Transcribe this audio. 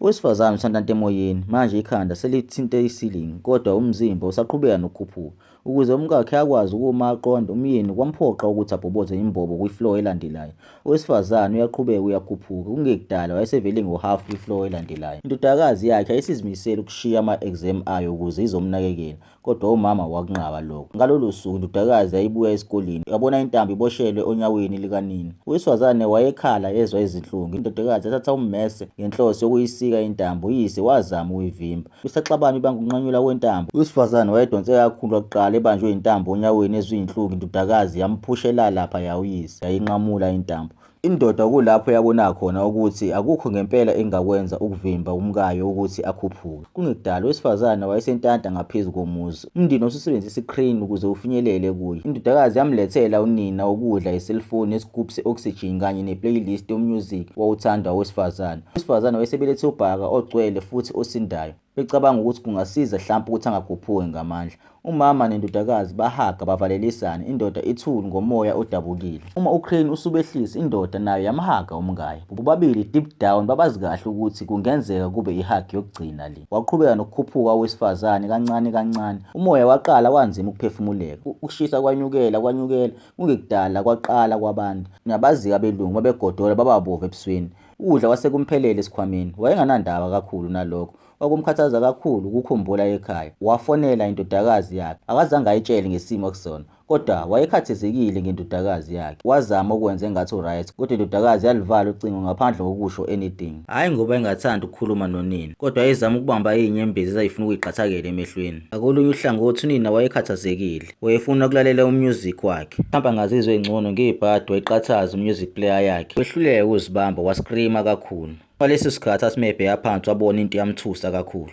Owesifazane usantanta emoyeni, manje ikhanda selithinte isilingi kodwa umzimba usaqhubeka nokukhuphuka. Ukuze umkakhe akwazi ukuma aqonde, umyeni kwamphoqa ukuthi abhoboze imbobo kwi-floor elandelayo. Owesifazane uyaqhubeka uyakhuphuka, kungekudala wayesevele ngohhafu kwi-floor elandelayo. Indodakazi yakhe ayisizimisele ukushiya ama-exam ayo ukuze izomnakekela. Kodwa umama wakunqaba lokho. Ngalolo suku indodakazi yayibuya esikoleni yabona intambo iboshelwe onyaweni likanina. Owesifazane wayekhala ezwa izinhlungu. Indodakazi yathatha ummese ngenhloso yokuyisika intambo, uyise wazama ukuyivimba. Kusaxabana ibanga ukunqanyulwa kwentambo. Owesifazane wayedonse kakhulu kwakuqala ebanjwe intambo onyaweni ezwa izinhlungu indodakazi yamphusha elala laphaya uyise yayinqamula intambo. Indoda kulapho yabona khona ukuthi akukho ngempela engakwenza ukuvimba umkayo ukuthi akhuphuke. Kungekudala owesifazane wayesentanta ngaphezu komuzi. Umndeni ususebenzisa i-crane ukuze ufinyelele kuye. Indodakazi yamlethela unina ukudla, iselfoni, isigubhu se-oxygen kanye ne-playlist yomusic owawuthandwa owesifazane. Owesifazane wayesebelethe ubhaka ogcwele futhi osindayo. becabanga ukuthi kungasiza hlampe ukuthi angakhuphuki ngamandla. Umama nendodakazi bahaga bavalelisane, indoda ithule ngomoya odabukile. Uma uCrane usubehlisa, indoda nayo yamhaga umkayo. Bobabili deep down babazi kahle ukuthi kungenzeka kube ihug yokugcina le. Waqhubeka nokukhuphuka owesifazane kancane kancane. Umoya waqala wanzima ukuphefumuleka. Ukushisa kwanyukela kwanyukela, kungekudala kwaqala kwabanda. Niyabazika abelungu babegodola bababove ebusweni. Ukudla kwase kumphelele esikhwameni. Wayenganandaba kakhulu nalokho. Kwakumkhathaza kakhulu ukukhumbula ekhaya. Wafonela indodakazi yakhe. Akazange ayitshele ngesimo akusona. Kodwa wayekhathezekile ngendodakazi yakhe. Wazama ukwenza engathi uright, kodwa indodakazi yalivala ucingo ngaphandle kokusho anything. Hhayi ngoba engathandi ukukhuluma nonina, kodwa yayizama ukubamba inyembezi ezayifuna ukuyiqathakela emehlweni. Ngakolunye uhlangothi unina wayekhathazekile. Wayefuna ukulalela umusic wakhe. Mhlawumbe angazizwa engcono ngebhadi wayiqathaza umusic player yakhe. Wehluleke ukuzibamba wascreama kakhulu. Kwaleso sikhathi asimebheya phansi wabona into yamthusa kakhulu.